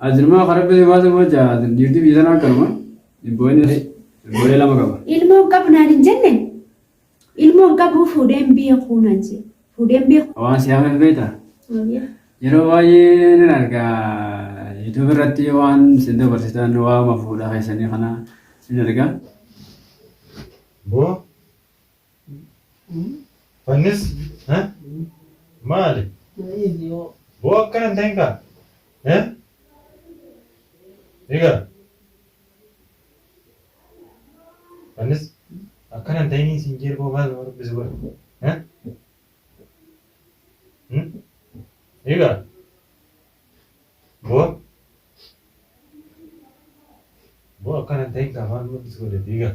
As ilmoo akka rabbi si baase bocha as dhiirti biyya sanaa akkanuma ibbooyinnis ibbooyee lama qaba. Ilmoon qabu naan hin jenne ilmoon qabu fuudheen beekuu naan jee fuudheen beekuu. Waan si haamee beekta. Yeroo baay'ee nan arga YouTube irratti waan isin dabarsitan waama fuudhaa keessanii kana nan arga. Boo Fannis maali? Boo akkana hin ta'in kaa. Egaa fannis akkana hin ta'in siin jeer boo maal nama dubbisi godha. Egaa boo boo akkana hin ta'in kaa maal nama dubbisi godha egaa.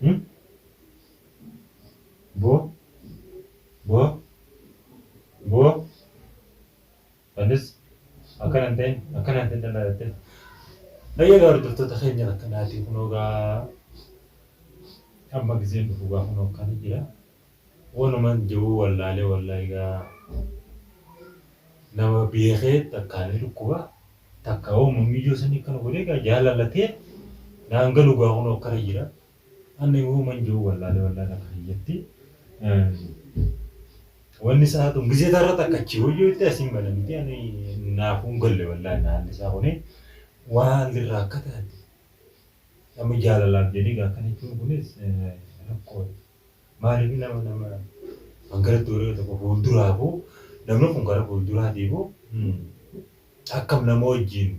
Hmm? Bo? Bo? Bo? Anis akkana hin ta'in, akkana hin ta'in dhala jettee. Bayyee gaa hordoftoota keenya akkanaati kunoo gaa amma gizeen dhufu gaa kunoo akkana jira. Wanuman je'uu wallaalee wallaahi gaa nama beekee takkaa ni dhukkuba takkaa wamuma miyyoo sanii akkana godhee gaa jaalala tee naan galu gaa kunoo akkana jira anni wanuman je'uu wallaalee wallaahi takka kiyyatti wanni isaa tun gizee tarra takka achii wayyoo itti asiin banamiti ani naafuun galle wallaahi naalli isaa kunii waan lirraa akka taate amma jaalalaaf jedhee gaa akkana jechuun kunis rakkoodha. Maaliif nama nama hangaratti warri yoo tokko fuulduraafuu namni kun gara fuulduraatiifuu akkam nama wajjin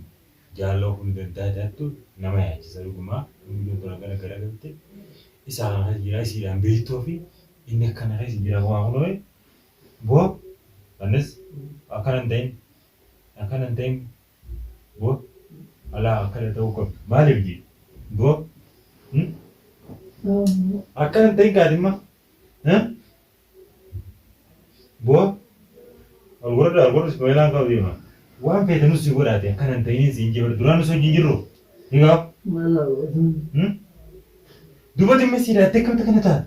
jaalala ofuu ni danda'a jaattu nama yaachisa dhugumaa mucayyoon tun hangana garagalte isaa kana keessa jira isiidhaan beektuu fi inni akkana keessa jira waa kunoo boo annis akkana hin ta'in akkana hin ta'in Gob alaa akkana ta'uu qabdu maaliif jee gob hmm? akkana hin ta'in kaati imma eh? gob alwarda alwarda ismaa'ilaan qabu deema waan feete nus si godhaate akkana hin ta'in siin jee bara duraan nus wajjin jirru ni gaaf hmm? dubati imma siidhaatte akkamta kana taate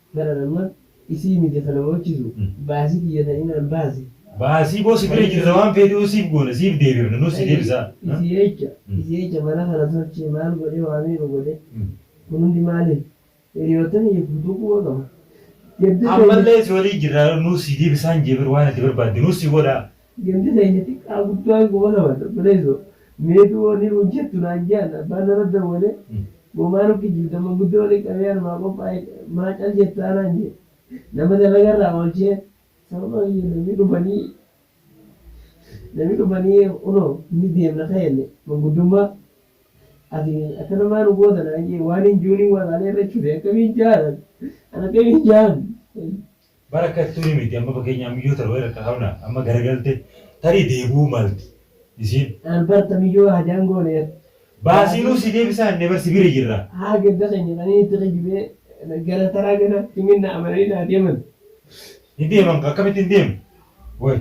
Kana nama isii miti kana mochisu baasi kiyya ta inaan baasi. Baasii boo si bira jirra waan feetuu siif goona siif deebifna nus si deebisaa. Isii jecha isii jecha mana kana tolchee maal godhee waa meeqa godhee kun hundi maaliif hiriyoottan kiyya guutuu quba qaba gadda keenya. Ammallee si walii jirra nus si deebisaan jee bar waan ati barbaadde nus si godhaa Gandi keenya xiqqaa guddaa hin goona bar obboleesso mee du wani nuun jettu naan jean abbaan nara dawwale moo maa nu kijibda manguddoo wali qabee anumaa qophaa'e maa cal jettaa naan jee nama dalaga irraa oolchee sababa kiyya namni dhufanii namni dhufanii kunoo ni deemna ka'enne manguddummaa ati akkana maa nu goota naan jee waan hin juuniin waraalee irra chufe akkamiin jaanan an akkamiin jaan Bar akka itti tuni miti amma fakkeenyaa miyyoo tana wayii rakka qabna amma garagalte tarii deebi'uu malti isiin. Bar ta miyyoo hajaan goone bar. Baasiinuu si deebisaa jennee bar si bira jirra. Haa gadda keenya qanii itti kijibee gara taraa gana himinna amananii naa deeman. Hin deeman kaa akkamitti hin deemu way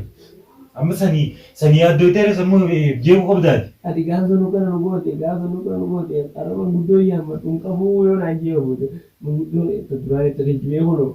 amma sani sani yaaddoytee ree sammuu jeequu qabda ati. Ati gaaf sanu kana nu goote gaaf sanu kana nu goote arra manguddoo hin yaammadhu hin qabuu yoo naan jee yoo booda manguddoon ta duraan itti kijibee kunoo.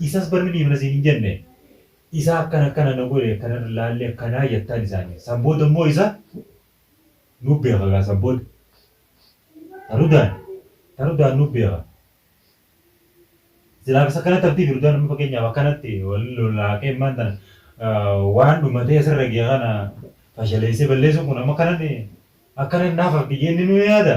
Isas bar ni dhiifna siin hin jenne. Isa akkana akkana na godhe akkana na laalle akkanaa jettaan isaaniin. San booda immoo isa nu beeka gaa san booda. Ta Rudaan ta Rudaan nu beeka. Silaa akkas akkanatti haftiif Rudaan amma fakkeenyaaf akkanatti wal lolaaqee immaan tana waan dhumatee asirra ga'e kana fashaleessee balleessuun kun amma akkanatti akkanatti naaf hafti jennee nu yaada.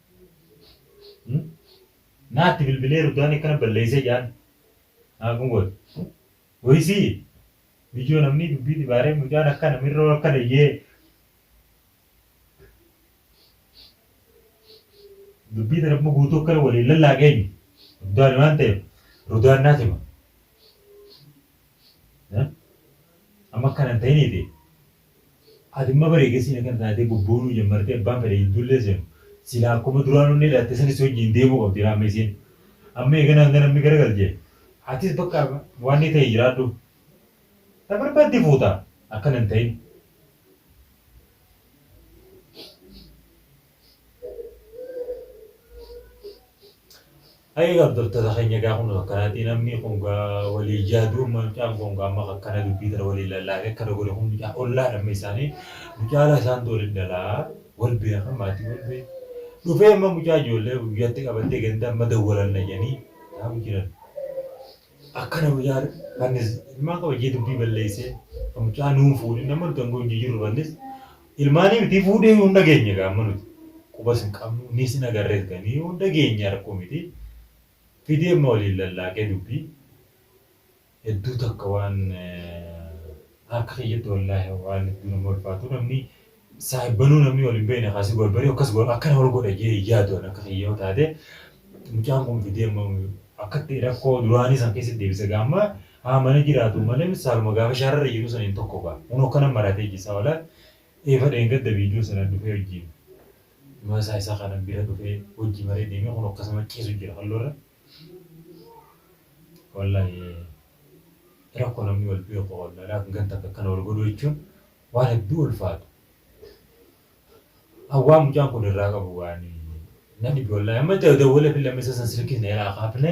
Naatti bilbilee Rutaan akkana balleessee jaan naa kun goote. Wayisii ijoo namni dubbii dibaaree mucaan akkana mirroo akkana iyyee dubbii tana amma guutuu akkana waliin lallaaqee eenyu Rudaan waan ta'eef Rudaan naa tima. Amma akkana hin ta'iniiti Ati imma bar eegasii na kana taatee bobboonuu jammartee abbaan fedhe jidduullee seenu silaa akkuma duraan onnee laatte sani si wajjiin deemuu qabdi laa amma isiin. Amma eega naan ganamni garagalche atis bakka waannii ta'ii jiraadhu. Ta barbaadde fuuta akkana hin ta'in. Ayii gaa abdoltota keenya gaa kun akkanati namni kun gaa walii yaaduu amma mucaan kun gaa amma akkana dubbii tana walii lallaafee akkana godhe kun mucaa ollaadha amma isaanii mucaalaa isaantu waliin dhalaa wal beeka maatii wal beeka dhufee amma mucaa ijoollee guyyatti qabattee ganda amma dawwalanna jedhanii taa'u jiran. Akkana mucaan annis ilmaan kabajee dubbii balleessee kan mucaa nuun fuudhin amma nuti angoo hin jijirru annis ilmaanii miti fuudhee yoo hin dhageenye gaa amma nuti qubas hin qabnu niis hin agarrees ganii yoo hin dhageenye rakkoo miti fidee amma waliin lallaaqee dubbii hedduu takka waan akka kiyyatti wallaahi waan hedduu nama ulfaatu namni Saahibbanuu namni wal hin beekne kaa si gorbaree akkas godha akkana wal godha jee hin yaadu ani akka kiyya yoo taate mucaan kun fidee amma akkatti rakkoo duraanii san keessatti deebisa gaa amma haa mana jiraatu malee miti saaluma gaafa shaararra jiru saniin tokko gaa kun akkana maratee jisa wala eefa dheengadda viidiyoo sana dhufee wajjin maasaa isaa kana bira dhufee wajji maree deemee kun akkasuma ciisu jira halloorra wallahi rakkoo namni wal beeku wallahi laakin ganta akka akkana wal godhu jechuun Waan hedduu ulfaatu. An waan mucaan kun irraa qabu waan na dhibe wallaahi. Amma itti dawwaleefillee amma isa san silkiis na jalaa kaafne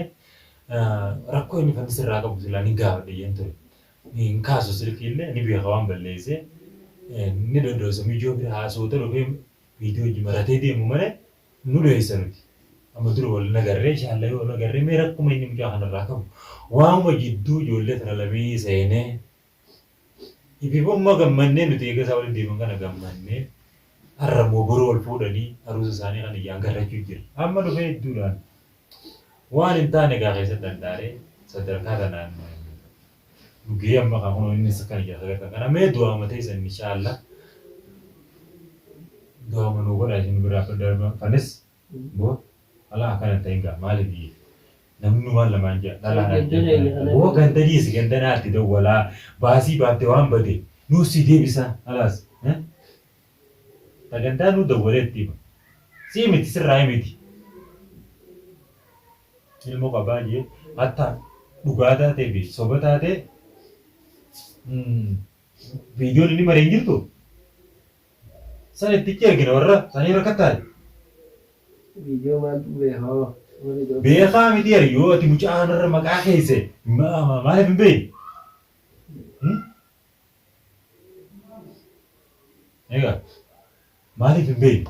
rakkoo inni fannis irraa qabu silaa ni gaafadhe jeen ture. Hin kaasu silkiillee ni beeka waan balleessee ni dhodhoosa mijoo bira haasawuuta dhufee mijoo wajji maratee deemu malee nu dhoysa nuti. Amma dura wal nagarree inshaallah yoo wal nagarree mee rakkuma inni mucaa kanarraa qabu waanuma jidduu ijoollee tana lamee seenee Ibiboo immoo gammannee nuti eega isaa waliin deeman kana gammannee arra immoo boru wal fuudhanii aruusa isaanii kana ijaangarrachuu jirra. Amma dhufee idduudhaan waan hin taane gaa keessatti dhandhaaree sadarkaa tanaan nu gahee amma kan kunoo innis kan ijaa sadarkaa kana mee du'aama teessan inshaalla du'aama nuu godhaa isin biraa darbafanis Wbo dhalaa akkana hin ta'in gaa maali biyyi namnuu waan lamaan ja'a dhalaa naan Ganda jettani deebine dhalaa wbo ganda dhiisi ganda naatti dawwalaa baasii baafte waan bade nuuf sii deebisaa khalaas eh ta gandaa nuu dawwalee itti hima sii miti sirraayi miti ilmo qabaa jee hatta dhugaa taatee fi soba taatee viidiyoon inni mare hin jirtuu. San itti itti ergina warra sanii rakkattaani. Video maaltu bee hoo. Beekaa miti bar yoo ati mucaa kanarra maqaa keeyse maaliif hin beeyne? Egaa maaliif hin beeyne?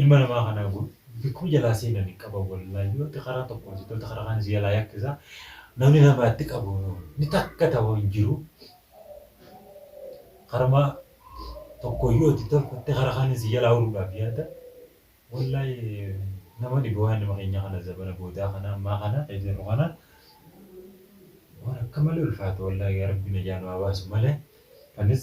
Ilma namaa kanaa kun bikkuma jalaa seenani qaban wallahi yoo atti karaa tokko hojjete atti karaa kaan si jalaa yakkisa namni namaa itti qabu ni takka ta'u hin jiru karuma tokko yoo itti tolfatte karaa kaan si jalaa uruudhaaf yaada wallahi nama dhibu waan nama keenya kana zabana boodaa kana ammaa kana kan jirru kana waan akka malee ulfaatu wallahi yaa rabbi najaa nu haa baasu malee anis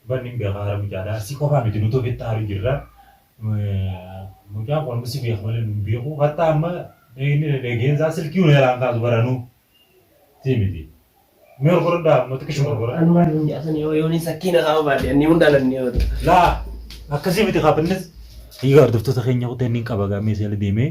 Dhugan nin beeka aara mucaadha si qofaa miti nuti ofitti aaru jirra mucaan kun amma si beeka malee nun beeku hatta amma inni dhageen isaa silkii nu helaan kaasu baranu si miti mee ol godhadhaa amma xiqqishu ol godhadhaa. Anumaan hin jaasan yoo yoo ni sakkiina haa baadhe anni hunda lanni yoo ta'e. Laa akkasii miti kaapinnis. Egaa hordoftoota keenya kuteen nin qaba gaamee seela deemee.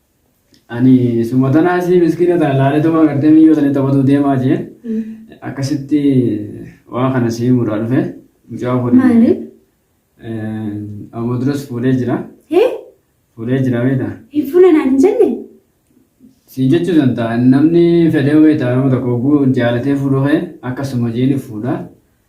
Ani suma tanaa isii miskiina tana laaletuma agartee miyyoo tana taphatuu deemaa jee akkasitti waan kana si himuudhaa dhufe mucaa fuudhe. Maali? Amma duras fuudhee jira. Hee? Fuudhee jira beekta. Hin fuula naan hin jenne? Siin jechuu danda'a namni fedhee beekta nama tokko oguu jaalatee fuudhuu kee akkasuma jeeni fuudha.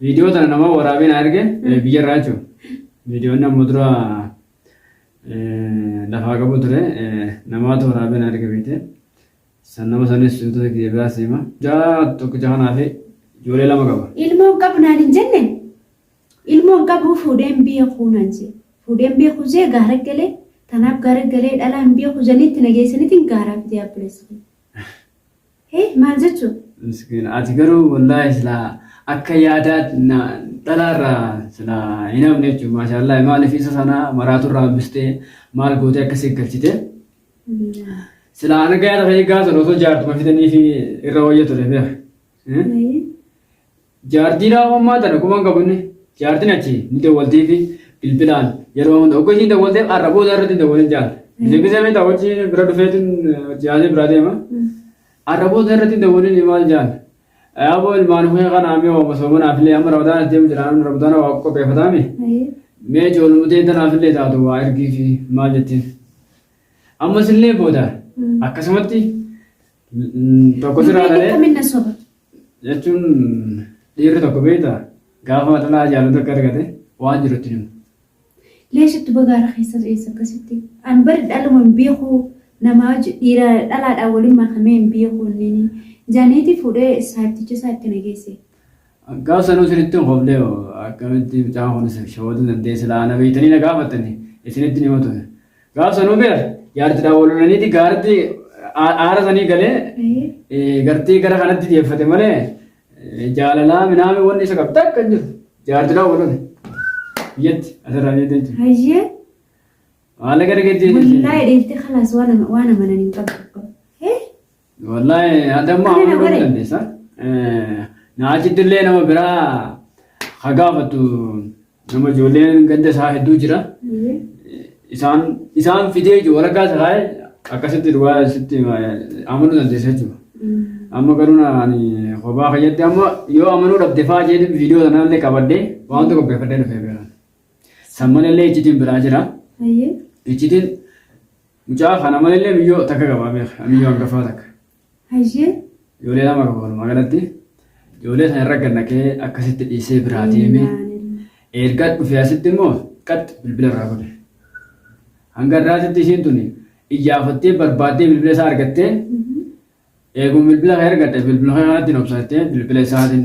Viidiyoo tana nama waraabee na erge biyya irraa jechuudha. Viidiyoon amma dura lafaa qabu ture namaatu waraabee na erge beekte. San nama sanis wantoota kiyya biraa seema. Jaa tokkicha kanaa fi ijoollee lama qaba. Ilmoon qabu naan hin jenne ilmoon qabu fuudheen beekuu naan jee fuudheen beekuu jee gaara galee tanaaf gaara galee dhalaan beekuu janitti nageessanitti gaaraaf jee abbileessu. Hee maal jechu? Miskiina ati garuu wallaahi silaa akka yaadaa na- dhalaarraa silaa hin hafne jechuudha maashaallahi maaliif isa sana maraaturraa hambistee maal gootee akka si galchite silaa ana gayaa ta'ee gaafa sana osoo jaartuma fidanii fi irra wayya ture beeka. Eh? Maayii. Jaartii Naa'oommaa tana kuma hin qabne jaartiin achi ni dawwaltiifi bilbilaan yeroo hunda ogga ishiin dawwalteef har'a booda irratti hin dawwalin jaal. Bilibisee beektaa wajji bira dhufeetiin wajji haasee biraa deema. Har'a booda irratti hin dawwalin maal jaal. Yaaboo ilmaan kee kana amee waama soomanaaf illee amma rabadaana deemu jira amma rabadaana waa qopheeffataame. Mee ijoolumtee tanaaf illee taatu waa ergiifi maal jettiin. Ammas illee booda akkasumatti tokko siraa dhalee. Kamin na soba. jechuun dhiirri tokko beekta gaafa dhalaa jaalatu akka argate waan jiru itti himu. Leesh itti bagaara keessa seessa akkasitti. An bari dhaluma hin beeku nama wajji dhiira dhalaadhaan waliin makamee hin beeku inni. Jaaneetii fuudhee saarticha isaa itti nageesse. Gaaf sanuu isinitti hin hoflee akkamitti mucaan kun isin shawaduu dandeessi laana beektanii na gaafattanii isinitti ni himatu. Gaaf sanuu beer jaartidhaan wal lolaniiti gaarti aara sanii galee gartii gara kanatti deeffate malee jaalalaa minaamee wanni isa qabda akka hin jiru jaartidhaan wal lole biyyatti asirraa biyyatti jechuudha. Hayyee. Maallaqa argachuu jechuudha. Wallahi dheelte kalaas waan amananii hin qabu. Wallaahi adamma Ani na amanuu gore. dandeessa. Na achitti illee nama biraa ha gaafatu nama ijoolleen ganda isaa hedduu jira. Isaan isaan fidee jiru waraqaa isa kaa'e akkasitti dhugaa sitti amanuu dandeessa jechuudha. Amma garuu na- ani kophaa fayyadde amma yoo amanuu dhabde fa'aa jedhu viidiyoo sanaa illee qabadde waan tokko qopheeffadhee dhufee bira. San malee illee iccitiin biraa jira. Iccitiin Mucaa kana malillee miyyoo takka qabaa beeka. Miyyoo hangafaa takka. Hayyee. Ijoollee lama qaba walumaa galatti. Ijoollee sana irra gannaqee akkasitti dhiisee biraa deeme. Erga dhufee asitti immoo qaxxi bilbila irraa godhe. Hanga irraatitti ishiin tuni iyyaafattee barbaaddee bilbila isaa argattee eeguun bilbila kan argatte bilbila kanatti hin obsattee bilbila isaatiin